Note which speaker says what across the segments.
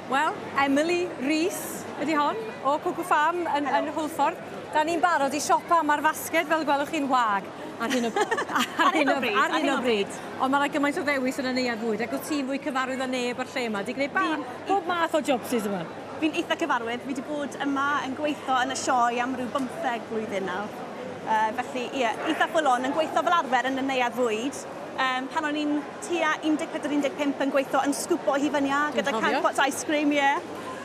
Speaker 1: Wel, Emily Rees ydy hon, o Cuckoo Farm yn, yn Hwlffordd. Da ni'n barod i siopa, mae'r fasged, fel y gwelwch chi'n wag. Ar hyn o, ar hyn o, ar hyn o bryd. Ond mae yna gymaint o ddewis yn y neuadd fwyd, ac wyt ti'n fwy cyfarwydd â neb o'r lle yma, di gwneud ba, bob math o jobsus yma. Fi'n eitha cyfarwydd,
Speaker 2: fi wedi bod yma yn gweithio yn y sioe am rhyw bymtheg blwyddyn nawr. Uh, felly, ie, eitha full on, yn gweithio fel arfer yn y neuadd fwyd. Um, pan o'n i'n tua 14, 15 yn gweithio yn sgwpo hufen-iâ gyda canned pots ice cream, ie.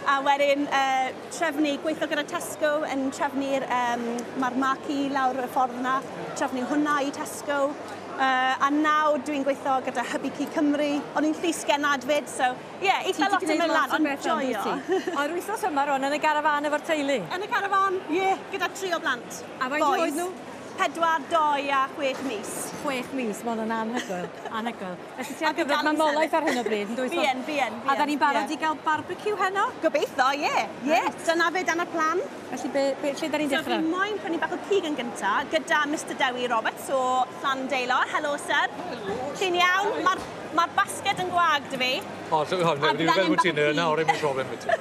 Speaker 2: A wedyn uh, trefnu, gweithio gyda Tesco yn trefnu'r, um, mae'r marci lawr y ffordd yna, trefnu hwnna i Tesco. Uh, a nawr dwi'n gweithio gyda Hybu Cu Cymru. O'n i'n llys genad fyd, so ie, yeah, eitha lot yn mynd lan, ond joio. O'r wythnos yma
Speaker 1: rwan, yn y garafan efo'r teulu? Yn y garafan, ie,
Speaker 2: yeah, gyda tri o blant. A faint oed nhw?
Speaker 1: 4, 2 a 6
Speaker 2: mis. 6 mis, ma'
Speaker 1: hwnna'n anhygoel, anhygoel. Felly ti ar gyfer mamolaeth ar hyn o bryd, yn dwyt? Fi yn, fi yn, fi yn. A da ni'n
Speaker 2: barod i gael
Speaker 1: barbecue heno? Gobeithio, ie,
Speaker 2: ie. Dyna fe, dyna plan. Felly be, be, lle da
Speaker 1: ni'n dechrau? So fi moyn prynu bach o
Speaker 2: cig yn gynta, gyda Mister Dewi Roberts o Llandeilo. Helo, sir. Helo. Chi'n iawn? Mae'r ma basged yn gwag, dy fi. O, so, o, na, dwi'n meddwl
Speaker 3: bod ti'n yna, o'r un problem i ti.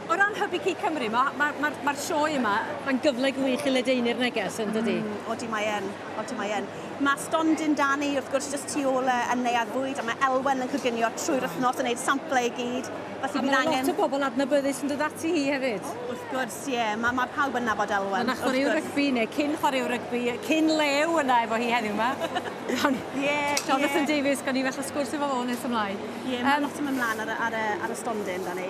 Speaker 1: O ran Hybu Cig Cymru, mae'r ma, ma, ma sioe yma, mae'n gyfle gwych i ledaenu'r neges yn dydy? Mm, odi mae yn,
Speaker 2: odi mae yn. Mae stondin Dani, wrth gwrs, jyst tu ôl yn neuad fwyd, a mae Elwen yn coginio trwy'r wythnos yn gwneud samplau i gyd. Felly a mae angen... lot o
Speaker 1: bobl adnabyddus yn dod ati hi hefyd. O, wrth gwrs, ie. Yeah.
Speaker 2: Mae, mae pawb yn nabod Elwen. Mae chwaraewr rygbi, neu
Speaker 1: cyn chwaraewr rygbi, cyn lew yna efo hi heddiw yma. yeah, Jonathan yeah. Davies, gan i falle sgwrs efo fo nes ymlaen. Ie, yeah, mae um, lot yn mynd mlaen
Speaker 2: ar, ar, ar, ar y stondin, Dani.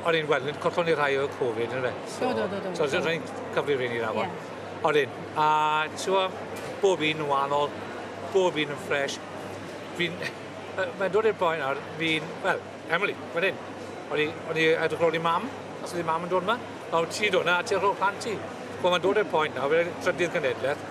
Speaker 3: O'n i'n gweld, collo'n ni rhai o Covid, yn fe? So, do, do, do. So, so, rhaid cyfrif i ni rhaid. Yeah. O'n i'n, a tiwa, bob un yn wahanol, bob un yn ffres. Fi'n, mae'n dod i'r boen nawr, fi'n, wel, Emily, fan hyn. O'n i, o'n i edrych rown i mam, os ydi mam yn dod yma. Nawr, ti dod yna, a ti'n rhoi'r plant i. Wel, mae'n dod i'r poen nawr, fe trydydd genedlaeth,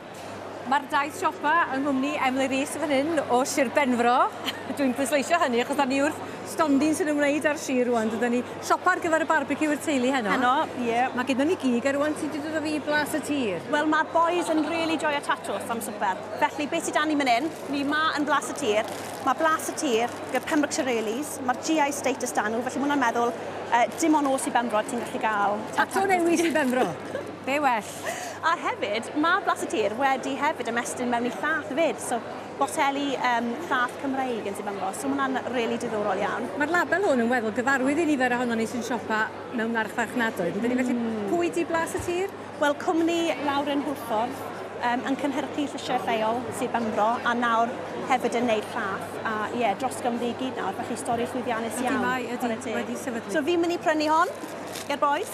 Speaker 1: Mae'r daith siopa yng nghwmni Emily Rees fan hyn o Sir Benfro. Dwi'n pwysleisio hynny achos da ni wrth stondin sy'n ymwneud â'r sir rwan. Dyda ni siopa ar gyfer y barbecue i'r teulu heno. Heno, ie. Yeah. Mae gyda ni gig ar rwan sy'n dod o fi blas y tir. Wel, mae'r boys yn
Speaker 2: really joio tatws am swper. Felly, beth sydd dan ni mynd hyn? Ni ma yn blas y tir. Mae blas y tir gyda Pembrokeshire Rallies. Mae'r GI status dan nhw, felly mae hwnna'n meddwl uh, dim ond os i Benfro ti'n gallu gael... Tato newid i
Speaker 1: Benfro. Be well? A hefyd,
Speaker 2: mae Blas y Tir wedi hefyd ymestyn mewn i llath fyd, so boteli um, llath Cymreig yn Sibangos, so mae'n rili really diddorol iawn. Mae'r label hwn yn weddol
Speaker 1: gyfarwydd i nifer ohono ni sy'n siopa mewn marchfarchnadoedd, yndyn ni? Felly, mm. pwy di Blas y Tir? Wel, cwmni
Speaker 2: Lauren Hwlffordd um, yn cynhyrchu llysiau lleol sydd Benfro a nawr hefyd yn neud llath a ie, yeah, dros Gymru i gyd nawr, felly stori llwyddiannus iawn. Ydy mae, ydy, wedi sefydlu.
Speaker 1: So fi'n mynd i prynu hon,
Speaker 2: ger boes.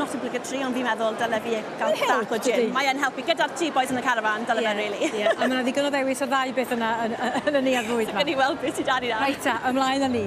Speaker 2: not obligatory ond fi'n meddwl dyle fi gael bach o gym. Mae e'n helpu gyda'r two boys in the caravan, dyle fe rili. Ie, a mae 'na ddigon o ddewis
Speaker 1: o'r ddau beth
Speaker 2: yna
Speaker 1: yn yn y
Speaker 2: neuadd
Speaker 1: fwyd 'ma.
Speaker 2: Gawn ni
Speaker 1: weld be'
Speaker 2: sy
Speaker 1: 'da ni nawr.
Speaker 2: Reit
Speaker 1: ta,
Speaker 2: ymlaen
Speaker 1: â ni.